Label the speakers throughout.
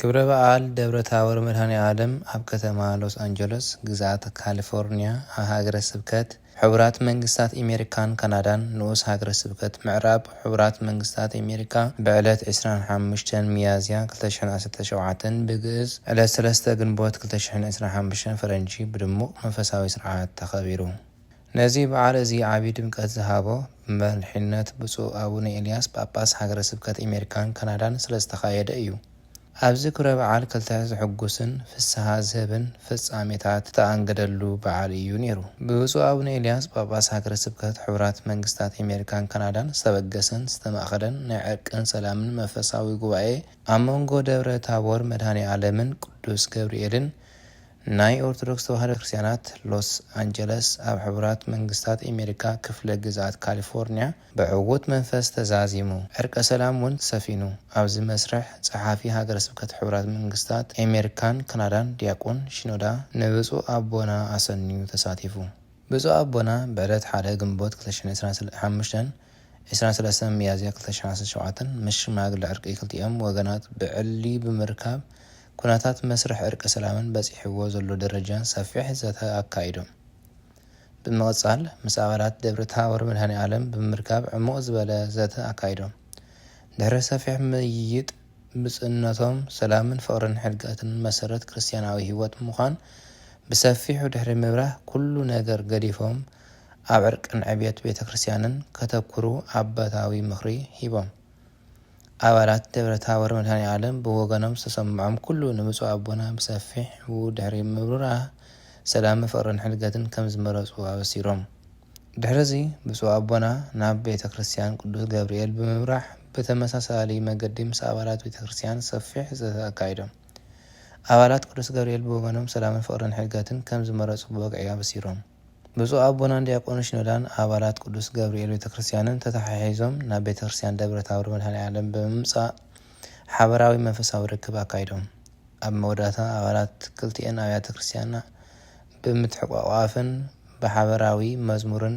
Speaker 1: ክብረ በዓል ደብረ ታቦር መድኃኔዓለም ኣብ ከተማ ሎስ ኣንጀሎስ ግዝኣት ካሊፎርንያ ኣብ ሃገረ ስብከት ሕቡራት መንግሥታት ኤሜሪካን ካናዳን ንኡስ ሃገረ ስብከት ምዕራብ ሕቡራት መንግሥታት ኤሜሪካ ብዕለት ዕስራን ሓሙሽተን ሚያዝያ ክልተ ሽሕን ዓሰርተ ሸውዓተን ብግእዝ ዕለት ሰለስተ ግንቦት ክልተ ሽሕን ዕስራን ሓሙሽተን ፈረንጂ ብድሙቕ መንፈሳዊ ሥርዓት ተኸቢሩ። ነዚ በዓል እዚ ዓቢ ድምቀት ዝሃቦ ብመሪሕነት ብፁዕ ኣቡነ ኤልያስ ጳጳስ ሃገረ ስብከት ኤሜሪካን ካናዳን ስለ ዝተኻየደ እዩ። ኣብዚ ክብረ በዓል ክልተ ዘሕጉስን ፍስሃ ዝህብን ፍጻሜታት ዝተኣንገደሉ በዓል እዩ ነይሩ። ብብፁዕ ኣቡነ ኤልያስ ጳጳስ ሃገረ ስብከት ሕቡራት መንግስታት ኤሜሪካን ካናዳን ዝተበገሰን ዝተማእከለን ናይ ዕርቅን ሰላምን መንፈሳዊ ጉባኤ ኣብ መንጎ ደብረ ታቦር መድኃኔ ዓለምን ቅዱስ ገብርኤልን ናይ ኦርቶዶክስ ተዋህዶ ክርስትያናት ሎስ ኣንጀለስ ኣብ ሕቡራት መንግስታት ኤሜሪካ ክፍለ ግዝኣት ካሊፎርንያ ብዕዉት መንፈስ ተዛዚሙ ዕርቀ ሰላም ውን ሰፊኑ ኣብዚ መስርሕ ጸሓፊ ሃገረ ስብከት ሕቡራት መንግስታት ኤሜሪካን ካናዳን ዲያቆን ሺኖዳ ንብጹእ ኣቦና ኣሰንዩ ተሳቲፉ ብጹእ ኣቦና ብዕለት ሓደ ግንቦት ክልተ ሽሕን ዕስራን ሓሙሽተን ዕስራን ሰለስተን ሚያዝያ ክልተ ሽሕን ዓሰርተ ሸውዓተን ምስ ሽማግለ ዕርቂ ክልቲኦም ወገናት ብዕሊ ብምርካብ ኩነታት መስርሕ ዕርቀ ሰላምን በጺሕዎ ዘሎ ደረጃን ሰፊሕ ዘተ ኣካይዶም። ብምቕጻል ምስ ኣባላት ደብረ ታቦር መድሃኔኣለም ብምርካብ ዕሙቕ ዝበለ ዘተ ኣካይዶም። ድሕሪ ሰፊሕ ምይይጥ ብፁዕነቶም ሰላምን ፍቕርን ሕድገትን መሰረት ክርስትያናዊ ሕይወት ምዃን ብሰፊሑ ድሕሪ ምብራህ ኩሉ ነገር ገዲፎም ኣብ ዕርቅን ዕብየት ቤተ ክርስትያንን ከተኩሩ ኣባታዊ ምኽሪ ሂቦም። ኣባላት ደብረ ታቦር መድሃኒኣለም ብወገኖም ዝተሰምዖም ኩሉ ንብፁዕ ኣቦና ብሰፊሑ ድሕሪ ምብራህ ሰላምን ፍቕርን ሕድገትን ከም ዝመረፁ ኣበሲሮም። ድሕሪ እዚ ብፁዕ ኣቦና ናብ ቤተ ክርስቲያን ቅዱስ ገብርኤል ብምብራሕ ብተመሳሳሊ መገዲ ምስ ኣባላት ቤተ ክርስቲያን ሰፊሕ ዘተ ኣካይዶም። ኣባላት ቅዱስ ገብርኤል ብወገኖም ሰላምን ፍቕርን ሕድገትን ከም ዝመረፁ ብወግዒ ኣበሲሮም። ብፁዕ ኣቦናን ዲያቆን ሺኖዳን ኣባላት ቅዱስ ገብርኤል ቤተ ክርስቲያንን ተተሓሒዞም ናብ ቤተ ክርስቲያን ደብረ ታቦር መድኃኔ ዓለም ብምምጻእ ሓበራዊ መንፈሳዊ ርክብ ኣካይዶም። ኣብ መወዳእታ ኣባላት ክልቲኤን ኣብያተ ክርስቲያና ብምትሕቋቋፍን ብሓበራዊ መዝሙርን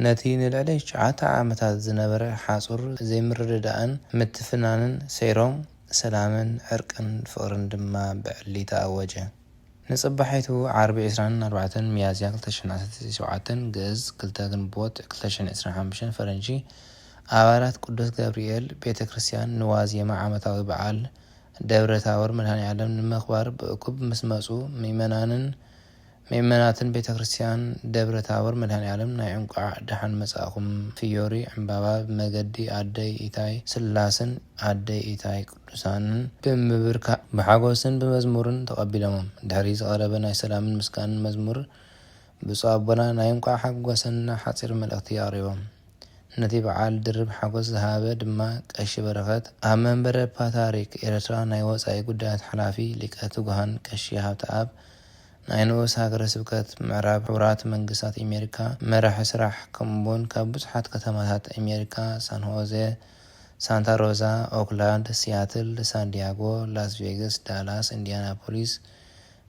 Speaker 1: ነቲ ንልዕሊ ትሽዓተ ዓመታት ዝነበረ ሓጹር ዘይምርድዳእን ምትፍናንን ሰይሮም ሰላምን ዕርቅን ፍቕርን ድማ ብዕሊ ተኣወጀ። ንጽባሒቱ ዓርቢ ዕስራን ኣርባዕተን ሚያዝያ ክልተ ሽሕን ዓሰርተ ሸውዓተን፣ ግእዝ፣ ክልተ ግንቦት ክልተ ሽሕን ዕስራን ሓሙሽተን፣ ፈረንጂ፣ ኣባላት ቅዱስ ገብርኤል ቤተ ክርስቲያን ንዋዜማ ዓመታዊ በዓል ደብረ ታቦር መድኃኔዓለም ንምኽባር ብእኩብ ምስ መጹ ምእመናንን ምእመናትን ቤተ ክርስቲያን ደብረ ታቦር መድኃኔዓለም ናይ እንቋዕ ደሓን መጻእኩም ፍዮሪ ዕምባባ ብመገዲ ኣደይ ኢታይ ስላስን ኣደይ ኢታይ ቅዱሳንን ብምብርካዕ ብሓጎስን ብመዝሙርን ተቐቢሎሞም። ድሕሪ ዝቐረበ ናይ ሰላምን ምስጋንን መዝሙር ብፁዕ ኣቦና ናይ እንቋዕ ሓጎሰና ሓጺር መልእኽቲ ኣቕሪቦም። ነቲ በዓል ድርብ ሓጎስ ዝሃበ ድማ ቀሺ በረኸት ኣብ መንበረ ፓትርያርክ ኤርትራ ናይ ወጻኢ ጉዳያት ሓላፊ ሊቀ ትጉሃን ቀሺ ሃብተኣብ ናይ ንኡስ ሃገረ ስብከት ምዕራብ ሕቡራት መንግስታት ኤሜሪካ መራሒ ስራሕ ከምኡ'ውን ካብ ብዙሓት ከተማታት ኤሜሪካ ሳንሆዘ ሳንታ ሮዛ፣ ኦክላንድ፣ ሲያትል፣ ሳንዲያጎ፣ ላስ ቬገስ፣ ዳላስ፣ እንዲያናፖሊስ፣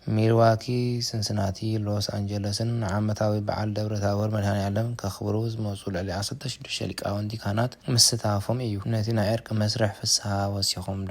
Speaker 1: ሚልዋኪ፣ ስንስናቲ፣ ሎስ ኣንጀለስን ንዓመታዊ በዓል ደብረታቦር መድሃኒኣለም ከኽብሩ ዝመጹ ልዕሊ ዓሰርተ ሽዱሽተ ሊቃውንቲ ካህናት ምስታፎም ኢዩ ነቲ ናይ ዕርቂ መስርሕ ፍስሃ ወሲኾምሉ።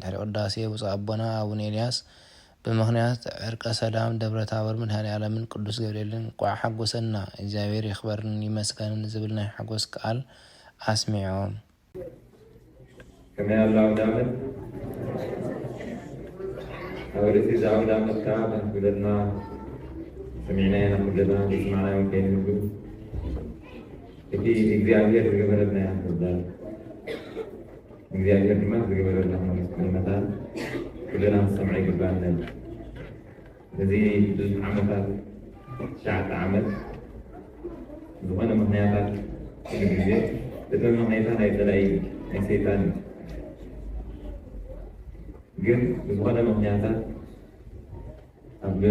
Speaker 1: ድሕሪ ቅዳሴ ብፁዕ ኣቦና ኣቡነ ኤልያስ ብምኽንያት ዕርቀ ሰላም ደብረ ታቦር መድኃኔዓለምን ቅዱስ ገብርኤልን እንቋዕ ሓጎሰና እግዚኣብሔር ይኽበርን ይመስገንን ዝብል ናይ ሓጎስ ቃል ኣስሚዖም። ከመይ ኣሎ ኣውደ ዓመት ኣብ ርእሲ እዚ ኣውደ ዓመት ከዓ ከም
Speaker 2: ክብለትና ሰሚዕናዮ ኢና ኩልና ዘይሰማዕናዮ ከይንህሉ እቲ እግዚኣብሔር ዝገበረልና ኢና ክንዛረብ እግዚኣብሔር ድማ ንዝገበረልና ከመስግኖ መታን ኩልና ክንሰምዖ ይግብኣና እዩ። እዚ ብዙሕ ዓመታት ትሽዓተ ዓመት ዝኾነ ምክንያታት ኩሉ ግዜ እቲ መምኔታ ናይ ፀላኢ እዩ፣ ናይ ሰይጣን እዩ። ግን ብዝኾነ ምክንያታት ኣብ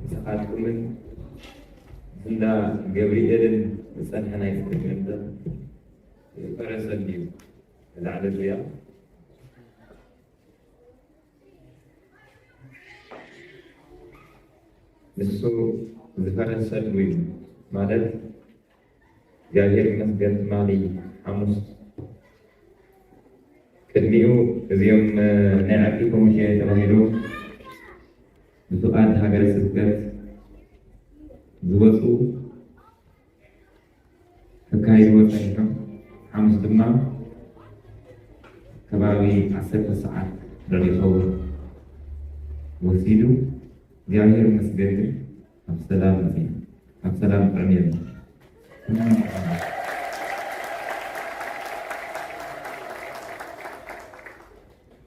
Speaker 2: ምሳኻትኩምን እንዳ ገብርኤልን ዝፀንሐ ናይ ስደት መምፅእ ዝፈረሰን እዩ እዛ ዕለት እዚኣ ንሱ ዝፈረሰሉ እዩ ማለት እግዚኣብሔር ይመስገን ትማሊ ሓሙስ ቅድሚኡ እዚኦም ናይ ዓቂ ኮሚቴ ተባሂሉ ብፍቃድ ሃገረ ስብከት ዝወፁ ከካይድዎ ጸኒሖም ሓሙስ ድማ ከባቢ ዓሰርተ ሰዓት ዶይከውን ወሲዱ እግዚኣብሔር ይመስገን ግን ኣብ ሰላም መጺና ኣብ ሰላም ጥዕም የለ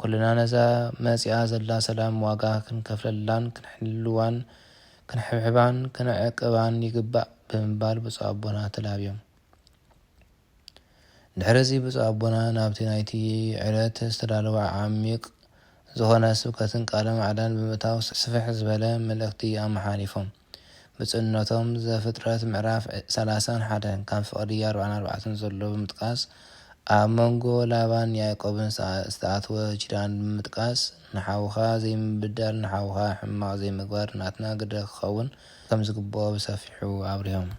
Speaker 1: ኩልና ነዛ መጺኣ ዘላ ሰላም ዋጋ ክንከፍለላን ክንሕልዋን ክንሕብሕባን ክንዕቅባን ይግባእ ብምባል ብፁዕ ኣቦና ተላብዮም። ድሕሪ እዚ ብፁዕ ኣቦና ናብቲ ናይቲ ዕለት ዝተዳለወ ዓሚቕ ዝኾነ ስብከትን ቃለ ማዕዳን ብምእታው ስፍሕ ዝበለ መልእኽቲ ኣመሓሊፎም። ብፁዕነቶም ዘፍጥረት ምዕራፍ ሰላሳን ሓደን ካብ ፍቕዲ ኣርብዓን ኣርባዕተን ዘሎ ብምጥቃስ ኣብ መንጎ ላባን ያዕቆብን ዝተኣትወ ኪዳን ብምጥቃስ ንሓውኻ ዘይምብዳል ንሓውኻ ሕማቕ ዘይምግባር ናትና ግደ ክኸውን ከምዝግብኦ ብሰፊሑ ኣብሪሆም።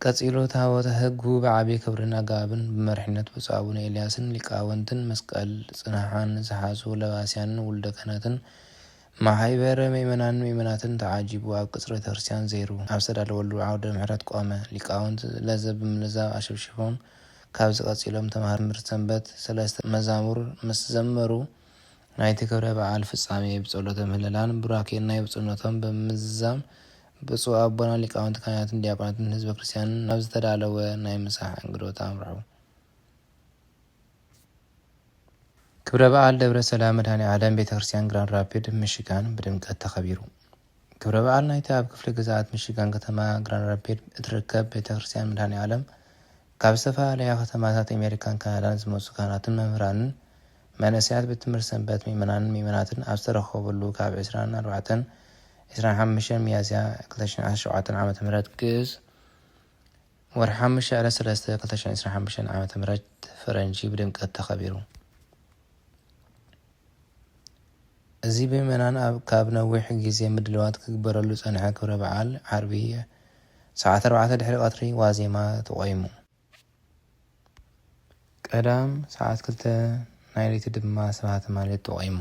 Speaker 1: ቀጺሉ ታቦተ ሕጉ ብዓቢይ ክብርን ኣገባብን ብመሪሕነት ብፁዕ ኣቡነ ኤልያስን ሊቃውንትን መስቀል ጽንሓን ዝሓዙ ለባስያንን ውሉደ ክህነትን ማሕይበረ ምእመናንን ምእመናትን ተዓጂቡ ኣብ ቅጽሪ ቤተክርስትያን ዘይሩ ኣብ ዝተዳለወሉ ዓውደ ምሕረት ቆመ። ሊቃውንት ለዘብ ብምልዛብ ኣሸብሺቦም ካብዚ ቀጺሎም ተመሃርምርቲ ሰንበት ሰለስተ መዛሙር ምስ ዘመሩ ናይቲ ክብረ በዓል ፍጻሜ ብጸሎተ ምህለላን ቡራኬን ናይ ብፁዕነቶም ብምዝዛም ብፁዕ ኣቦና ሊቃውንት ካህናትን ዲያቆናትን ህዝበ ክርስቲያንን ናብ ዝተዳለወ ናይ ምሳሕ እንግዶት ኣምርሑ። ክብረ በዓል ደብረ ሰላም መድኃኔዓለም ቤተ ክርስቲያን ግራንድ ራፒድ ሚሺጋን ብድምቀት ተኸቢሩ። ክብረ በዓል ናይቲ ኣብ ክፍለ ግዝኣት ሚሺጋን ከተማ ግራንድ ራፒድ እትርከብ ቤተ ክርስቲያን መድኃኔዓለም ካብ ዝተፈላለያ ከተማታት ኣሜሪካን ካናዳን ዝመጹ ካህናትን መምህራንን መንእሰያት ቤት ትምህርቲ ሰንበት ምእመናንን ምእመናትን ኣብ ዝተረኸብሉ ካብ ዕስራን ኣርባዕተን ዕስራን ሓሙሽተን ሚያዝያ ክልተ ሽሕን ዓሰርተ ሸውዓተን ዓመተ ምህረት ግእዝ፣ ወርሒ ሓሙሽተ ዕለት ሰለስተ ክልተ ሽሕን ዕስራን ሓሙሽተን ዓመተ ምህረት ፈረንጂ ብድምቀት ተኸቢሩ። እዚ ብምእመናን ኣብ ካብ ነዊሕ ግዜ ምድልዋት ክግበረሉ ዝጸንሐ ክብረ በዓል ዓርቢ ሰዓት ኣርባዕተ ድሕሪ ቀትሪ ዋዜማ ተቖይሙ። ቀዳም ሰዓት ክልተ ናይ ለይቲ ድማ ስብሃተ ማህሌት ተቖይሙ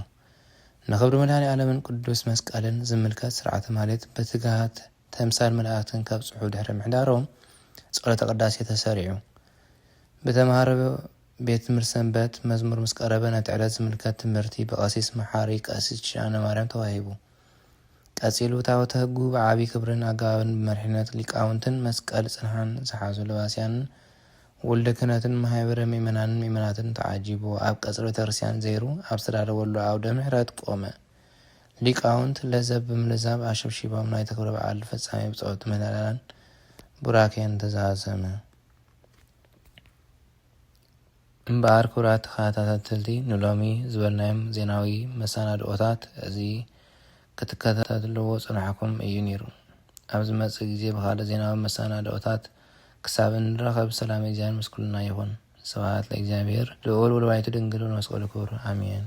Speaker 1: ንኽብሪ መድኃኔዓለምን ቅዱስ መስቀልን ዝምልከት ሥርዓተ ማህሌት በትግሃት ተምሳል መላእክትን ከብጽሑ ድሕሪ ምሕዳሮም ጸሎተ ቅዳሴ ተሰሪዑ ብተምሃሮ ቤት ትምህርት ሰንበት መዝሙር ምስ ቀረበ ነቲ ዕለት ዝምልከት ትምህርቲ ብቀሲስ መሓሪ ቀሲስ ኪዳነማርያም ተዋሂቡ። ቀጺሉ ታወተ ህጉ ብዓቢ ክብርን ኣገባብን ብመሪሕነት ሊቃውንትን መስቀል ጽንሓን ዝሓዙ ለባስያንን ወልደ ክህነትን ማህበረ ምእመናንን ምእመናትን ተዓጂቡ ኣብ ቀጽሪ ቤተክርስትያን ዘይሩ ኣብ ዝተዳለወሉ ኣውደ ምሕረት ቆመ። ሊቃውንት ለዘብ ብምልዛብ ኣሸብሺቦም ናይቲ ክብረ በዓል ፍጻሜ ብጾት ምህለላን ቡራኬን ተዛዘመ። እምበኣር ክቡራት ተኸታታተልቲ ንሎሚ ዝበልናዮም ዜናዊ መሰናድኦታት እዚ ክትከታተልዎ ጽንሖኩም እዩ ኔሩ። ኣብ ዝመጽእ ግዜ ብኻልእ ዜናዊ መሰናድኦታት ክሳብ እንራኸብ ሰላም እግዚኣብሔር ምስ ኩልና ይኹን። ስብሃት ለእግዚኣብሔር ልኡል ወለወላዲቱ ድንግል ወለመስቀሉ ክቡር ኣሜን።